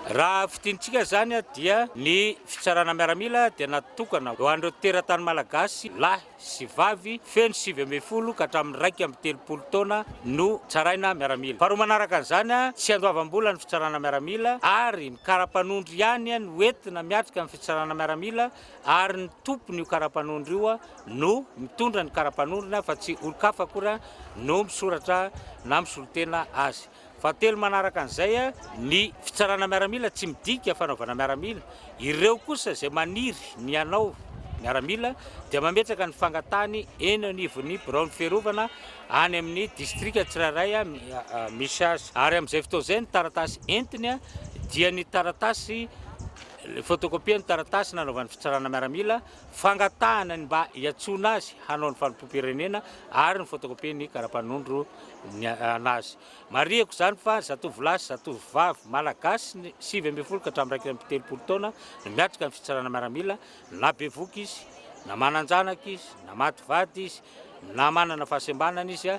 Raha fidintsika izany dia ny fitsarana miaramila dia natokana ho an'ireo teratany malagasy lahy sy vavy feno sivy ambin'ny folo ka hatramin'ny iraika amby telopolo taona no tsaraina miaramila. Faharoa manaraka an'izany, tsy andoavam-bola ny fitsarana miaramila ary ny kara-panondro ihany no entina miatrika ny fitsarana miaramila ary ny tompon'io kara-panondro io no mitondra ny kara-panondrony fa tsy olon-kafa akory no misoratra na misolo-tena azy. Fahatelo manaraka an'izay ny fitsarana miaramila tsy midika fanaovana miaramila. Ireo kosa izay maniry ny hanao miaramila dia mametraka ny fangatahany eny anivon'ny biraon'ny fiarovana any amin'ny distrika tsirairay misy azy ary amin'izay fotoana izay ny taratasy entiny dia ny taratasy, photocopie, ny taratasy nanaovany fitsarana miaramila. fangatahana ny mba hiantsoana azy hanao ny fanompoam-pirenena ary ny photocopie ny karapanondro ny an'azy. Marihiko izany fa zatovolahy sy zatovovavy Malagasy ny sivy ambin'ny folo ka hatramin'ny iraika amby telopolo taona no miatrika ny fitsarana miaramila na bevoka izy, na manan-janaka izy, na maty vady izy, na manana fahasembanana izy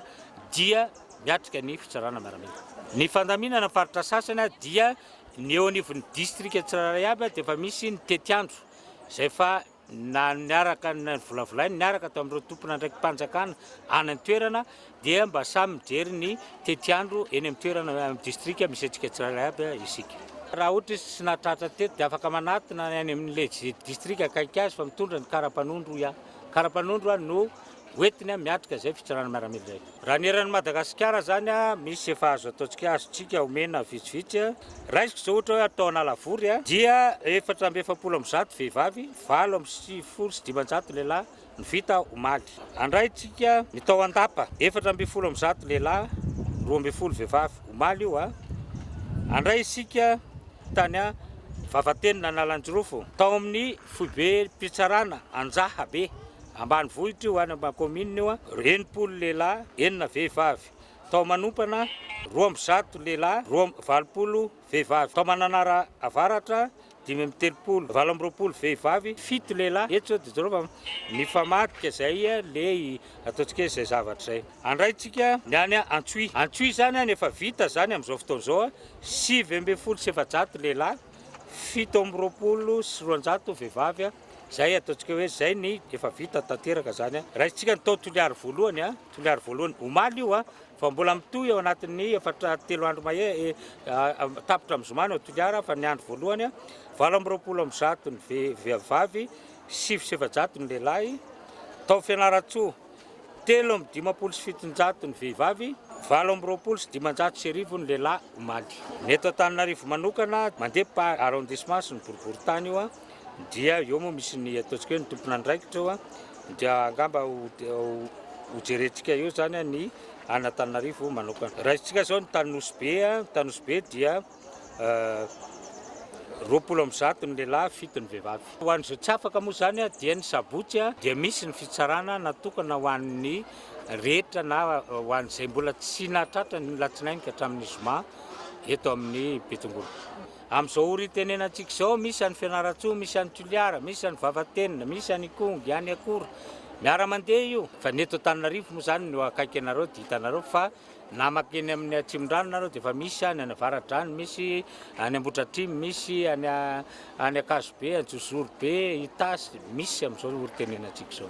dia miatrika ny fitsarana miaramila. Ny fandaminana ny faritra sasany dia ny eo anivon'ny distrika tsirairay avy dia efa misy ny tetiandro izay fa na niaraka novolavolainy niaraka tao amin'ireo tompon'andraiki-panjakana any an-toerana dia mba samy mijery ny tetiandro eny amin'ny toerana amin'ny distrika misy antsika tsirairay aby isika. Raha ohatra izy tsy nahatratra teto dia afaka manatona any amin'ilay distrika akaiky azy fa mitondra ny karapanondro ihany. Karapanondro no hoentiny miatrika izay fitsarana miaramila izay. Raha ny eran'i Madagasikara izany, misy efa azo ataontsika, azontsika omena vitsivitsy. Raisiko izao ohatra hoe tao Analavory dia efatra amby efapolo amby zato vehivavy, valo amby sivifolo sy dimanjato lehilahy no vita omaly. Andraintsika ny tao Andapa, efatra ambin'ny folo amby zato lehilahy, roa ambin'ny folo vehivavy, omaly io. Andray isika tany Vavatenina Analanjirofo, tao amin'ny foibe-pitsarana Anjahabe, Ambanivohitra io, any Ambakominina io, enimpolo lehilahy, enina vehivavy. Tao Manompana, roa amby zato lehilahy, roa amby valopolo vehivavy. Tao Mananara Avaratra, dimy amby telopolo, valo amby roapolo vehivavy, fito lehilahy. Eto izao dia jereo fa mifamadika izay lei, ataontsika hoe izay zavatra izay. Andraintsika ny any Antsohihy. Antsohihy izany any efa vita izany amin'izao fotoana izao, sivy ambin'ny folo sy efajato lehilahy, fito amby roapolo sy roanjato vehivavy. Zay ataontsika hoe zay ny efa vita tanteraka zany a. Raisintsika ny tao Toliary voalohany a, Toliary voalohany omaly io a, fa mbola mitohy ao anatin'ny efatra telo andro mahery tapitra amin'ny zoma any ao Toliary a, fa ny andro voalohany a, valo amby roapolo amby zato ny vehivavy, sivy sy efajato ny lehilahy, tao Fianarantsoa, telo amby dimampolo sy fitonjato ny vehivavy, valo amby roapolo sy dimanjato sy arivo ny lehilahy omaly. Ny eto Antananarivo manokana, mandeha par arrondissement sy ny boriborintany io a. dia eo moa misy ny ataontsika hoe ny tompon'andraikitra eo dia angamba ho jerentsika eo zany ny an'Antananarivo manokana. Raisintsika zao ny tany Nosy Be, ny tany Nosy Be dia roapolo amby zato ny lehilahy, fito ny vehivavy. Ho an'izay tsy afaka moa zany dia ny sabotsy dia misy ny fitsarana natokana ho an'ny rehetra na ho an'izay mbola tsy nahatratra ny latsinainy ka hatramin'ny zoma eto amin'ny Betongolo. Amin'izao ora itenenantsika izao, misy any Fianarantsoa, misy any Toliara, misy any Vavatenina, misy any Ikongo, any Akora. Miara-mandeha io. Fa ny eto Antananarivo moa izany no akaiky anareo dia hitanareo fa na mankeny any amin'ny Atsimondrano nareo dia efa misy any, any Avaradrano misy, any Ambohidratrimo misy, any any Ankazobe, Anjozorobe, Itasy, misy amin'izao ora itenenantsika izao.